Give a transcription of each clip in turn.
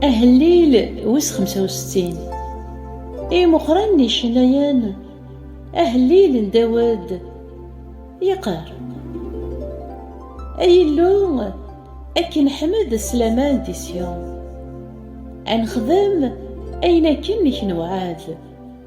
Ahellil wis 65 I Muqran n icennayen Ahellil n Dawed yeqqar Ay Illu akken ḥmed s laman di Syon ad nexdem ayen akken i k-newɛed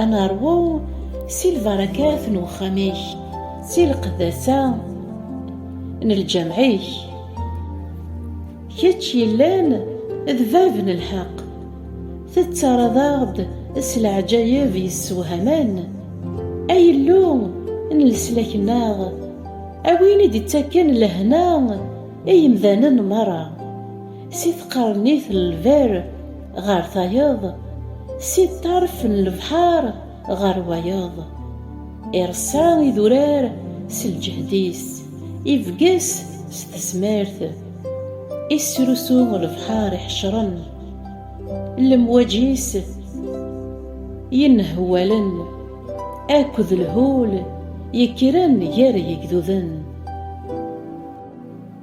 Ad neṛwu si lbarakat n uxxam-ik, si lqeddasa n lǧameɛ-ik. Kečč yellan d bab n lḥeqq, tettarraḍ-aɣ-d s leɛǧayeb yessewhamen. Ay Illu n leslak-nneɣ, a win i d-ittaken lehna i yemdanen meṛṛa. Si tqernit n lberr ɣer tayeḍ, si ṭṭerf n lebḥer ɣer wayeḍ. Ireṣṣa idurar s lǧehd-is, ibges s tezmert. Isrusu lebḥer iḥecren, lemwaǧ-is yenhewwalen, akked lhul yekkren gar yigduden.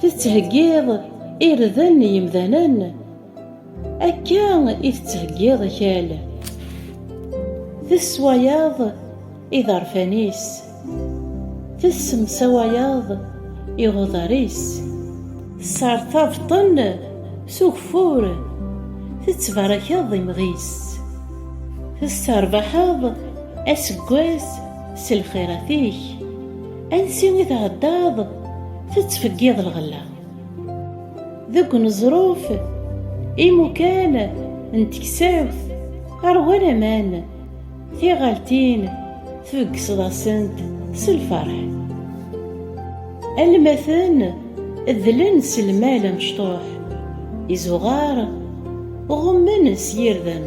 Tettheggiḍ irden n yimdanen, akka i tettheggiḍ akal. Tesswayeḍ iḍerfan-is, tessemsawayeḍ iɣudar-is. Tessertabeḍ-ten s ugeffur, tettbarakeḍ imɣi-s. Tesserbaḥeḍ aseggas s lxirat-ik. Ansi i tɛeddaḍ tettfeggiḍ lɣella deg uneẓruf imukan n teksawt ɣer wanaman tiɣaltin tbeggseḍ-asent s lferḥ almaten ddlen s lmal amecṭuḥ izuɣar ɣummen s yirdem